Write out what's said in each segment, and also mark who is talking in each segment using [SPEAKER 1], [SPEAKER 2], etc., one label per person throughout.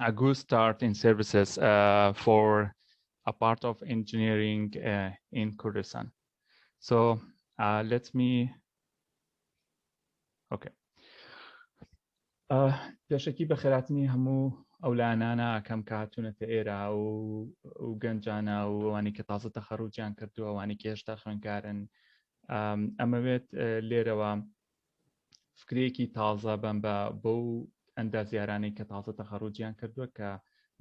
[SPEAKER 1] a good start in services uh, for a part of engineering uh, in Kurdistan. So uh, let me, okay. پێشەکی بە خێراتنی هەموو ئەو لایەنانە ئەکەم کە هاتوونەتە ئێرە و و گەنجانە و ئەوانی کە تازە تەخەڕوجیان کردو ئەوانی کێشتا خوێنکارن ئەمەوێت لێرەوە فکرەیەکی تازە بەم بە بەو ئەندازیارانەی کە تازە تەخەڕوجیان کردووە کە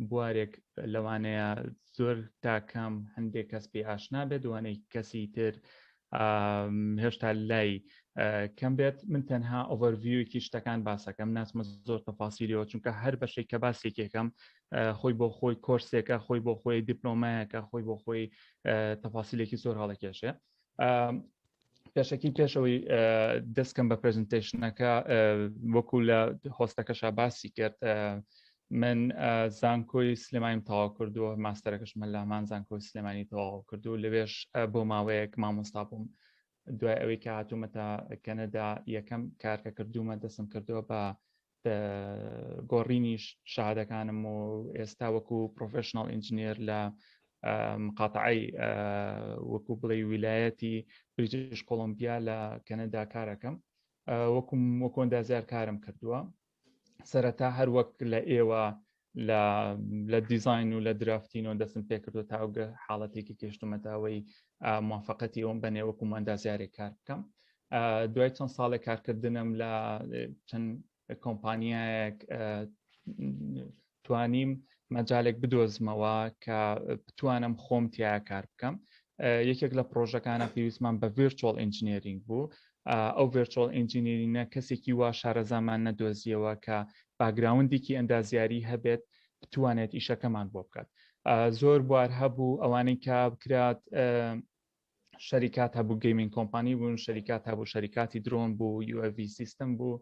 [SPEAKER 1] بوارێک لەوانەیە زۆر تاکەم هەندێک کەس پێ ئاشنا بێت دوانەی کەسی تر هێشتا لای کەم بێت من تەنها ئۆڤەرڤیوکی شتەکان باسەکەم ناسمە زۆر تەفاسیلیەوە چونکە هەر بەشێک کە باسێکێکم خۆی بۆ خۆی کۆرسێکە خۆی بۆ خۆی دیپلۆمایەکە خۆی بۆ خۆی تەفاسیلێکی زۆر هەڵەکێشێ پێشەکی پێشەوەی دەستکەم بە پرزنتشنەکە وەکو لە هۆستەکەشا باسی کرد من زانکۆی سلێمانیم تەواو کردووە ماستەرەکەش من لامان زانکۆی سلێمانی تەواو کردو لەوێش بۆ ماوەیەک مامۆستا بووم دوای ئەوەی کە هاتوومەتە کەنەدا یەکەم کارکە کردوومە دەسم کردووە بە گۆڕینی شادەکانم و ئێستا وەکو پرۆفشنناڵ ئینجنێر لە مقاتعی وەکو بڵێ ویلایەتی بریتش کۆلمبیا لە کەنەدا کارەکەم وەکوم وەکۆندازیار کارم کردووە سەرەتا هەر وەک لە ئێوە لە دیزین و لە درافتین و دەستم پێکردو تاگە حاڵەتێکی کەشتومەتاوەی موفقەتی ئەوم بەنێ وەکو ماندازیارێک کار بکەم دوای چەند ساڵێک کارکردنم لە چەند کۆمپانیایەک توانیم مەجالێک بدۆزمەوە کە بتوانم خۆم تیا کار بکەم یەکێک لە پرۆژەکانە پێویستمان بە ڤێرچۆڵ ئینجنیرینگ بوو ئەو ڤێرچۆڵ ئینجینیرینە کەسێکی وا شارەزامان نەدۆزیەوە کە باگراوندێکی ئەندازیاری هەبێت بتوانێت ئیشەکەمان بۆ بکات زۆر بوار هەبوو ئەوانەی کە بکرات شەریکات هەبوو گەیمین کۆمپانی بوون شەریکات هەبوو شەریکاتی درۆن بوو یوV سیستم بوو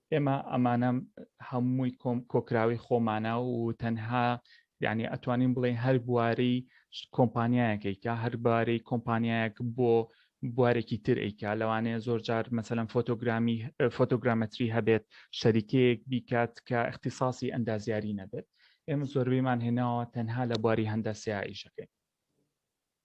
[SPEAKER 1] ئێمە ئەمانە هەمووی کۆم کۆکراوی خۆمانە و تەنها یعنی ئەتوانین بڵێ هەر بواری کۆمپانیایەکەیکە هەر بارەی کۆمپانیایەک بۆ بوارێکی تر ئەیکا لەوانەیە زۆر جار مەسەلەن فۆتۆگرامی فۆتۆگرامەتری هەبێت شەریکەیەک بیکات کە اختصاصی ئەندازیاری نەبێت ئێمە زۆربەیمان هێناوە تەنها لە بواری هەندە سیایشەکەی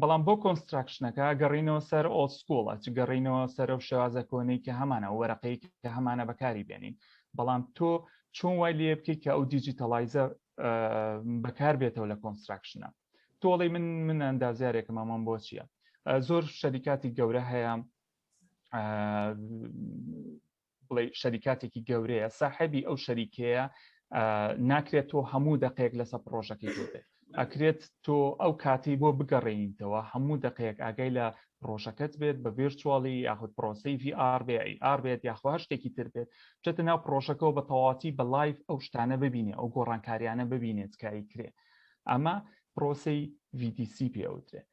[SPEAKER 1] بەڵام بۆ کۆنستراکشنەکە گەڕینەوە سەر ئۆڵد سکوڵ ئەچ گەڕینەوە سەرەو شێوازە کۆنەی کە هەمانە وەرەقەی کە هەمانە بەکاری بێنین بەڵام تۆ چۆن وای لێ بکەیت کە ئەو دیجیتەڵایزە بەکار بێتەوە لە کۆنستراکشنە تۆڵی من من ئەندازیارێکم ئەمەم بۆ چییە زۆر شەریکاتی گەورە هەیە بڵێ شەریکاتێکی گەورەیە ساحبی ئەو شەریکەیە ناکرێت تۆ هەموو دەقێک لەسە پرۆژەکەی بێت ئەکرێت تۆ ئەو کاتی بۆ بگەڕێنیتەوە هەموو دەقێک ئاگای لە پرۆژەکەت بێت بە ڤێرچواڵی یاخود پرۆسی VR بێ AR بێت یاخوا شتێکی تر بێت بچێتە ناو پرۆژەکەەوە بە تەواتی بە لایف ئەو شتانە ببینێ ئەو گۆڕانکاریانە ببینێت کاری کرێ ئەمە پرۆسی VDC پێوترێت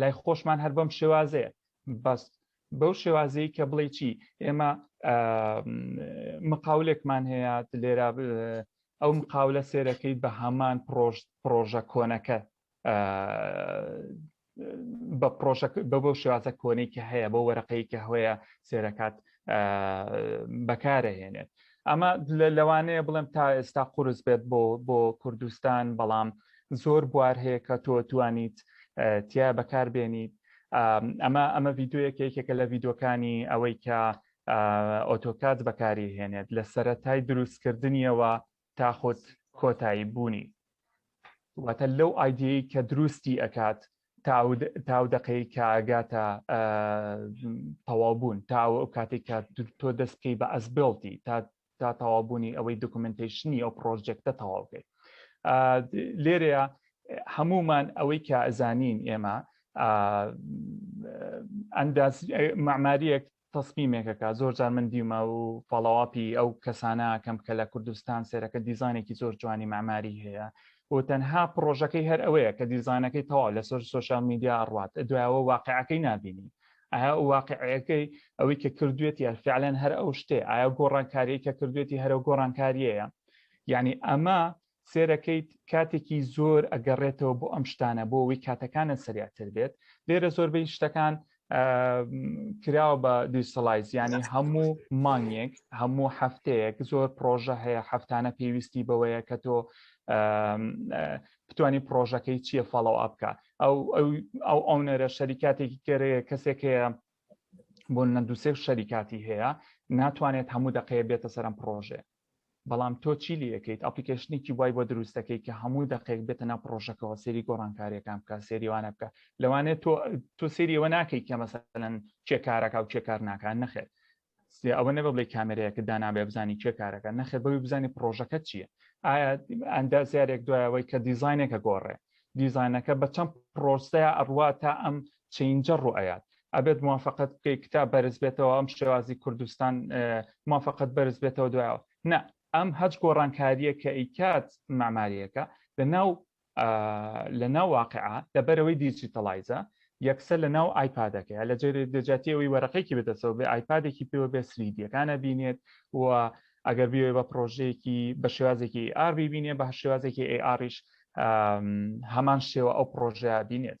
[SPEAKER 1] لای خۆشمان هەر بەم شێوازەیە بەس بەو شێوازەیە کە بڵێ چی ئێمە مقاولێکمان هەیە لێرە ئەو مقاولە سێرەکەی بە هەمان پرۆژە کۆنەکە بە پرۆژە بە بەو شێوازە کۆنەی کە هەیە بۆ وەرەقەی کە هەیە سێرەکات بەکارەهێنێت ئەمە لەوانەیە بڵێم تا ئێستا قورس بێت بۆ بۆ کوردستان بەڵام زۆر بوار هەیە کە تۆ توانیت تیا بەکاربێنیت ئەمە ئەمە ڤیددیوەک یەکێکە لە ڤیددیوەکانی ئەوەی کە ئۆتۆکات بەکاری هێنێت لە سەتای دروستکردنیەوە تا خود کۆتایی بوونی واتە لەو ئایدیەی کە دروستی ئەکات تاو دەقەی کاگاتە تەوابوون تا ئەو کاتێک کە تۆ دەست بکەی بە ئەسبڵتی تا تا تەوابوونی ئەوەی دکمنتیشنی ئەو پرۆژێکتە تەواو بکەیت لێرەیە هەمومان ئەوەی کە ئەزانین ئێمە ئەنداز معماریەک تەسمیمێکەکە زۆر جار من دیومە و فاڵاواپی ئەو کەسانە کەم کە لە کوردستان سێرەکە دیزانێکی زۆر جوانی مەعماری هەیە و تەنها پرۆژەکەی هەر ئەوەیە کە دیزانەکەی تەواو لە سۆر سوۆشال میدیا ڕات دوایەوە واقعەکەی نبینی ئایا واقعەکەی ئەوەی کە کردوێتی فعلەن هەر ئەو شتێ ئایا گۆڕانکاریەکە کردوێتی هەرە گۆڕانکاریەیە یعنی ئەمە سێرەکەیت کاتێکی زۆر ئەگەڕێتەوە بۆ ئەم شتانە بۆ ئەوی کاتەکانە سریاتر بێت لێرە زۆربەی شتەکان کراوە بە دیسەڵایز ینی هەموو مانگێک هەموو هەفتەیەک زۆر پرۆژە هەیە هەفتانە پێویستی بەوەیە کە تۆ بتانی پرۆژەکەی چییە فاڵەوە ئەبکە ئەو ئەو ئەونەرە شەریکاتێکی کەێ کەسێک هەیە بۆ نە دووسێک شەریکاتی هەیە ناتوانێت هەموو دقەیە بێتە سەرم پرۆژێ بەڵام تۆ چی لێ ئەکەیت ئەپلیکەیشنێکی وای بۆ دروست دەکەی کە هەموو دەقێک بێتە ناو پڕۆژەکەوە سەیری گۆڕانکارییەکان بکە سەیری وانە بکە لەوانەیە تۆ تۆ سەیری ئەوە ناکەی کە مەسەلەن کێ کارەکە و کێ کار ناکات نەخێت ئەوە نەبە بڵێ کامێرەیەکە دانابێ بزانی کێ کارەکە نەخێت بەوی بزانانی پرۆژەکە چییە ئایا ئەندازیارێک دوایەوەی کە دیزینێکە گۆڕێ دیزانەکە بە چەند پرۆسەیە ئەڕوا تا ئەم چەینجەر ڕوئەیات ئەبێت موافقەت بکەی کتاب بەرز بێتەوە ئەم شێوازی کوردستان موافقەت بەرز بێتەوە دوایەوە نا ئەم هەچ گۆڕانکاریە کە ئیکات ماماریەکە لە ناو لە ناو واقعا لەبەرەوەی دیجیتەڵایزە یەکسەر لە ناو ئایپادەکە لە جێری دەجاتی ئەوی وەرەقێکی بدەسەوە بێ ئایپادێکی پێوە بێ سریدیەکانە بینێت و ئەگەر بێ بە پرۆژەیەکی بە شێوازێکی ئار ببینێ بە شێوازێکی ئەی ئاریش هەمان شێوە ئەو پرۆژە بینێت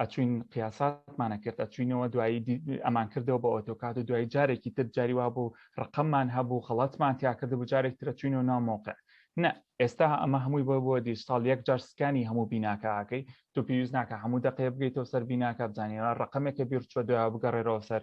[SPEAKER 1] ئەچوین قیاساتمان ئەکرد ئەچوینەوە دوایی ئەمان کردەوە بە ئۆتۆکات و دوای جارێکی تر جاری وا بوو ڕقممان هەبوو خەڵاتمان تیاکرد بوو جارێک ترە چوینەوە ناو مۆقع نە ئێستا ئەمە هەمووی بۆ بۆ دیجتال یەک جار سکانی هەموو بیناکەکەی تو پێویست ناکە هەموو دەقەیە بگەیتەوە سەر بیناکە بزانانی ڕقمێکە بیرچوە دوای بگەڕێرەوە سەر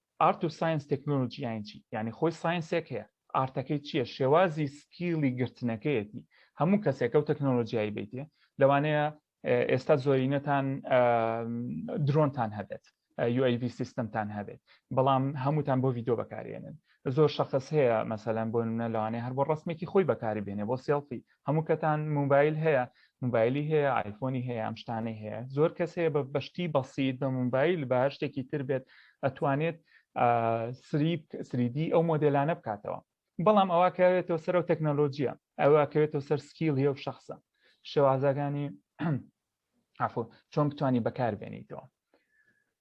[SPEAKER 1] ئارت و ساینس تەکنۆلۆژی یانی چی یانی خۆی ساینسێک هەیە ئارتەکەی چییە شێوازی سکیڵی گرتنەکەیەتی هەموو کەسێکە و تەکنۆلۆژیایی بیتێ لەوانەیە ئێستا زۆرینەتان درۆنتان هەبێت UAV سیستمتان هەبێت بەڵام هەمووتان بۆ ڤیددیو بەکارێنن زۆر شخص هەیە مەسەلەن بۆ منە لەوانێ هەر بۆ ڕستمێکی خۆی بەکاری بێنێ بۆ سێڵفی هەموو کەتان موبایل هەیە موبایلی هەیە ئایفۆنی هەیە ئەم شتانەی هەیە زۆر کەس هەیە بە بەشتی بەسییت بە موبایل بە شتێکی تر بێت ئەتوانێت سریپ سریدی ئەو مۆدلانە بکاتەوە بەڵام ئەوە کەوێتەوە سەر و تەکنەلۆژیە ئەوە کەوێتەوە سەر سکیل هەیە و شخصە شێوازەکانی عفو چۆن بتانی بەکار بێنیتەوە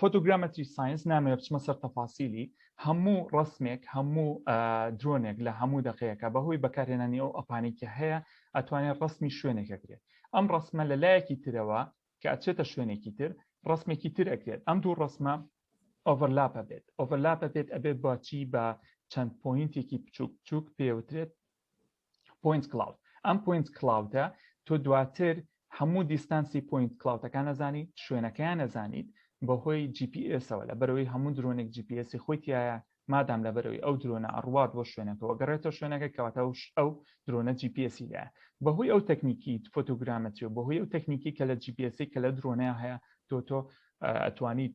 [SPEAKER 1] فۆتۆگرامەتری ساینس نامەوێ بچمە سەر تەفاسیلی هەموو ڕسمێک هەموو درۆنێک لە هەموو دەقەیەەکە بەهۆی بەکارهێنانی ئەو ئەپانێکە هەیە ئەتوانێت ڕسمی شوێنێکە کرێت ئەم ڕسمە لە لایەکی ترەوە کە ئەچێتە شوێنێکی تر ڕسمێکی تر ئەکرێت ئەم دوو ڕسمە ئۆڤەرلاپە بێت ئۆڤەرلاپە بێت ئەبێت باچی بە چەند پوینتێکی بچووک بچووک پێوترێت پۆینت کلاود ئەم پۆینت کلاودە تۆ دواتر هەموو دیستانسی پۆینت کلااوتەکان ئەزانیت شوێنەکەیان ئەزانیت بەهۆی جیPSەوە لە بەرەوەی هەموو درۆنێک جیPSی خۆیتیایە مادام لە بەرەوەی ئەو درۆنە ئەڕوات بۆ شوێنەکەەوە گەڕێتە شوێنەکە کەواتە ئەو درۆنە جیPSی لە بەهۆی ئەو تەکنیکی فۆتۆگرامەتری و بەهۆی ئەو تەکنیکی کە لە جیPSی کە لە درۆنەیە هەیە تۆ تۆ ئەتوانیت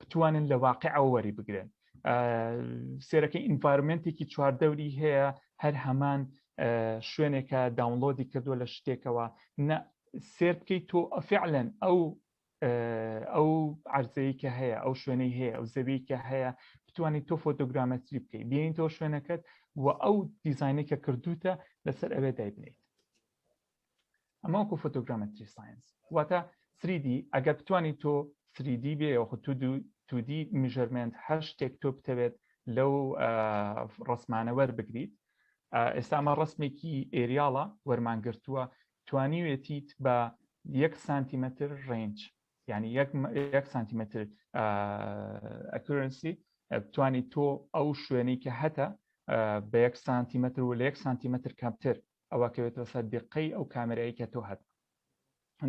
[SPEAKER 1] بتوانن لە واقعەوە وەری بگرن سێرەکەی ئینڤارمنتێکی چواردەوری هەیە هەر هەمان شوێنێکە داونلۆدی کردووە لە شتێکەوە نە سێر بکەیت تۆ ئەفعلەن ئەو ئەو عرضەیە کە هەیە ئەو شوێنەی هەیە ئەو زەوی کە هەیە بتوانیت تۆ فۆتۆگرامەتری بکەیت بینین تۆ شوێنەکەت و ئەو دیزانێکە کردوتە لەسەر ئەوێ دایبنیت ئەمە وەکو فۆتۆگرامەتری ساینس واتە سریدی ئەگەر بتانی تۆ سریدی بێ یاخود تو دوو تودی میژەرمنت هەر شتێک تۆ بتەوێت لەو ڕسمانە وەربگریت ئێستا ئەمە ڕسمێکی ئێریاڵە وەرمانگرتووە توانیوێتیت بە یەک سانتیمەتر ڕێنج ینی یەک سانتیمەتر ئەکرنسی توانی تۆ ئەو شوێنی کە هەتە بە یەک سانتیمەتر و لە یەک سانتیمەتر کەمتر ئەوە کەوێتە سەر دیقەی ئەو کامێرایی کە تۆ هەت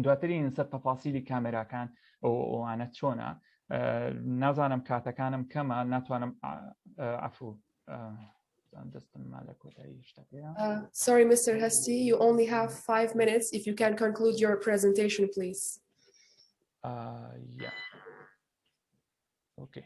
[SPEAKER 1] دواتری نسەر تەفاسیلی کامێراکان ئەو ئەوانە چۆنا نازانم کاتەکانم کەمە ناتوانم عفو دەستم ما لە کۆتایی شتەکەیە sorry Mr.
[SPEAKER 2] هەستی you only have five minutes if you can conclude your presentation please uh,
[SPEAKER 1] yeah okay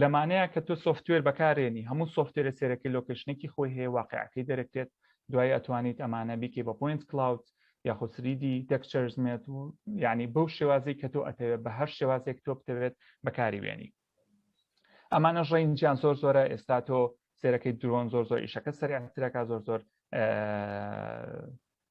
[SPEAKER 1] لەمانەیە کە تۆ سۆفتوێر بەکارێنی هەموو سۆفتوێرە سێرەکەی لۆکەیشنەکی خۆی هەیە واقیعەکەی دەرەکرێت دوای ئەتوانیت ئەمانە بیکەی بە پۆینت کلاود یاخۆ سریدی تێکچەرز مێت و یعنی بەو شێوازی کە تۆ ئەتەوێت بە هەر شێوازێک تۆ بتەوێت بەکاری وێنی ئەمانە ڕێنجیان زۆر زۆرە ئێستا تۆ سێرەکەی درۆن زۆر زۆر ئیشەکە سەرعترەکە زۆر زۆر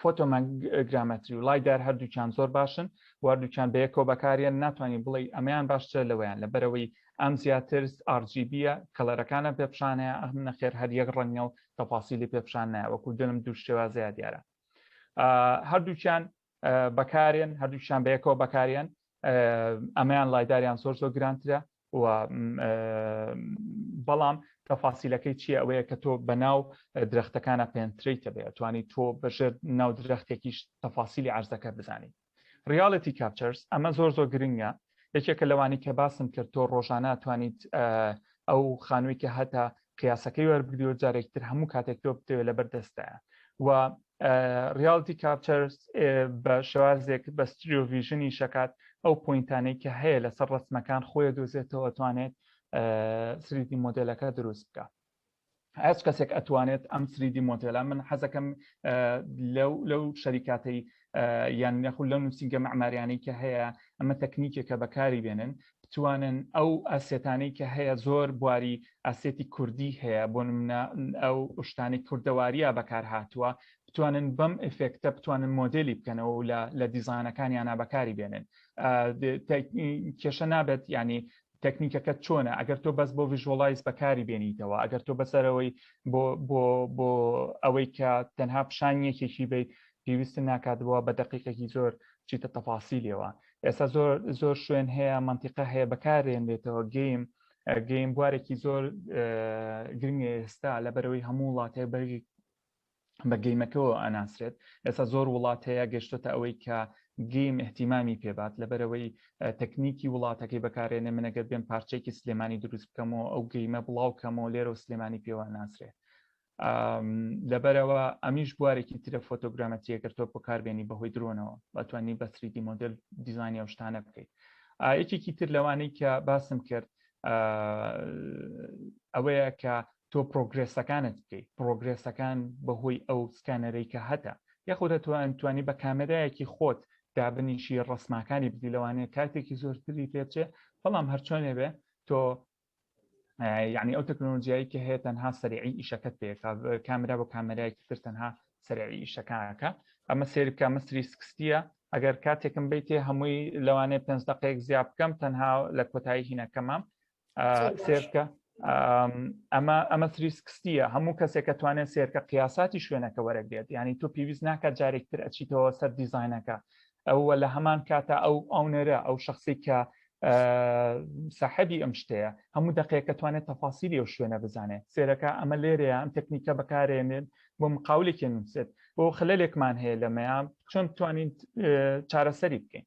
[SPEAKER 1] فۆتۆمەگرامەتری و لایدار هەردووکیان زۆر باشن واردووکیان بەیەکەوە بەکاریان ناتوانانی بڵێ ئەمەیان باشترە لەوەیان لە بەرەوەی ئەم زیاتر ئارجیبیە کەلەرەکانە پێپشانەیە ئەم نەخێر هەر یەک ڕەنگە و تەفاسیلی پێپشان نایە وەکو دلم دوو شێوازەیە دیارە هەردووکیان بەکارێن هەردووکیان بەیەکەوە بەکارێن ئەمەیان لایداریان زۆر زۆر گرانترە و بەڵام تەفاسیلەکەی چیە ئەوەیە کە تۆ بە ناو درختەکانە پێنتریتە بێ توانی تۆ بەژێر ناو درختێکیش تەفاسیلی عرزەکە بزانی ریاڵەتی کاپچەرس ئەمە زۆر زۆر گرنگە یەکێکە لەوانی کە باسم کرد تۆ ڕۆژانە توانیت ئەو خانووی کە هەتا قیاسەکەی وەربگری و جارێکی تر هەموو کاتێک تۆ بتەوێت لەبەر دەستایە و ریالتی کاپچەرس بە شێوازێک بە ستریۆڤژنی شکات ئەو پوینتانەی کە هەیە لەسەر ڕسمەکان خۆی دۆزێتەوە توانێت سریدی مۆدلەکە دروست بکە هەست کەسێک ئەتوانێت ئەم سریدی مۆدلە من حەزەکەم لەو لەو شەریکاتی یان نەخود لەو نووسنگە مەعماریانەی کە هەیە ئەمە تەکنیکێکە بەکاری بێنن بتوانن ئەو ئاسێتانەی کە هەیە زۆر بواری ئاسێتی کوردی هەیە بۆ منە ئەو شتانی کوردەواریە بەکار هاتووە بتوانن بەم ئفێکتە بتوانن مۆدلی بکەنەوە و لە دیزانەکانیانە بەکاری بێنن کێشە نابێت ینی تەکنیکەکەت چۆنە ئەگەر تۆ بەس بۆ ڤژۆڵایز بەکاری بێنیتەوە ئەگەر تۆ بەسەرەوەی بۆ بۆ بۆ ئەوەی کە تەنها پیشان یەکێکی بیت پێویستە ناکاتەوە بە دقیقێکی زۆر چیتە تەفاسی لێوە ئێستا زۆر زۆر شوێن هەیە منتیقە هەیە بەکارێن لێتەوە گەیم گەیم بوارێکی زۆر گرنگە ئێستا لە بەرەوەی هەموو وڵاتێ بەرگی بە گەیمەکەوە ئەناسرێت ئێستا زۆر وڵات هەیە گەشتۆتە ئەوەی کە گەیم احتیمامی پێبات لەبەرەوەی تەکنیکی وڵاتەکەی بەکارێنێ منەگەر بێن پارچێکی سلێمانی دروست بکەمەوە ئەو گەیمە بڵاو کەمەوە لێرە و سلێمانی پێوە ناسرێت لەبەرەوە ئەمیش بوارێکی ترە فۆتۆگرامەتیەکە تۆ بەکاربێنی بەهۆی درۆنەوە بەتوانی بەسریدی مۆدل دیزانانی ئەو شتانە بکەیت یەکێکی تر لەوانەی کە باسم کرد ئەوەیە کە تۆ پرۆگرێسەکانت بکەی پرۆگرێسەکان بەهۆی ئەو سکانەرەی کە هەتە یاخود ئەتوانی بە کامێرایەکی خۆت دابنیشی ڕەسماکانی بدی لەوانەیە کاتێکی زۆرتری پێ بچێ بەڵام هەرچۆنێ بێ تۆ یعنی ئەو تەکنۆلۆژیایی کە هەیە تەنها سەرعی ئیشەکەت پێ کامرا بۆ کامەرایەکی تر تەنها سەرعی ئیشەکانەکە ئەمە سێرکە مەسری سکستە ئەگەر کاتێکم بیتێ هەمووی لەوانەیە پێنج دقەیەک زیاد بکەم تەنها لە کۆتایی هینەکەمام سێرکە ئەمە ئەمە تریسکستیە هەموو کەسێک کە توانێت سێرکە قیاساتی شوێنەکە وەرەگرێت ینی تۆ پێویست ناکات جارێکتر ئەچیتەوە سەر دیزینەکە ئەوە لە هەمان کاتە ئەو ئەونەرە ئەو شخصی کە ساحبی ئەم شتەیە هەموو دقەیەکە توانێت تەفاسیری و شوێنە بزانێت سێرەکە ئەمە لێرەیە ئەم تەکنیکە بەکارێنێن بۆ مقاولێکی نووسێت بۆ خلەلێکمان هەیە لەمەیان چۆن توانین چارەسەری بکەین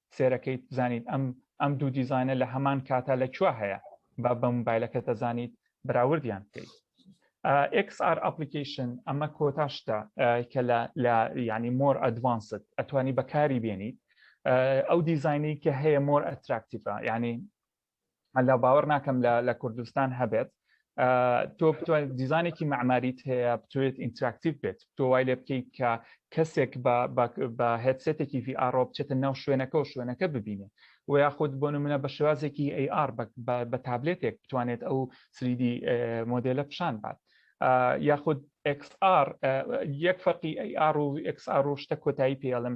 [SPEAKER 1] سێرەکەیت بزانیت ئەم ئەم دوو دیزانە لە هەمان کاتا لە کوێ هەیە با بە موبایلەکە دەزانیت بەراوردیان بکەیت XR ئەپلیکیشن ئەمە کۆتاشتە کە لە ینی مۆر ئەدوانست ئەتوانی بەکاری بێنیت ئەو دیزینەی کە هەیە مۆر ئەتراکتیفە ینی هەلا باوەڕ ناکەم لە کوردستان هەبێت تۆ بتوانێت دیزانێکی مەعماریت هەیە بتوێت ئینتراکتیو بێت تۆ وای لێ بکەیت کە کەسێک بە هێتسێتێکی VR بچێتە ناو شوێنەکە و شوێنەکە ببینێ و یاخود بۆ منە بە شێوازێکی AR بە تابلێتێک بتوانێت ئەو سریدی مۆدلە پیشان بات یاخود XR یەک فەرقی AR و XR و شتە کۆتایی پێڵم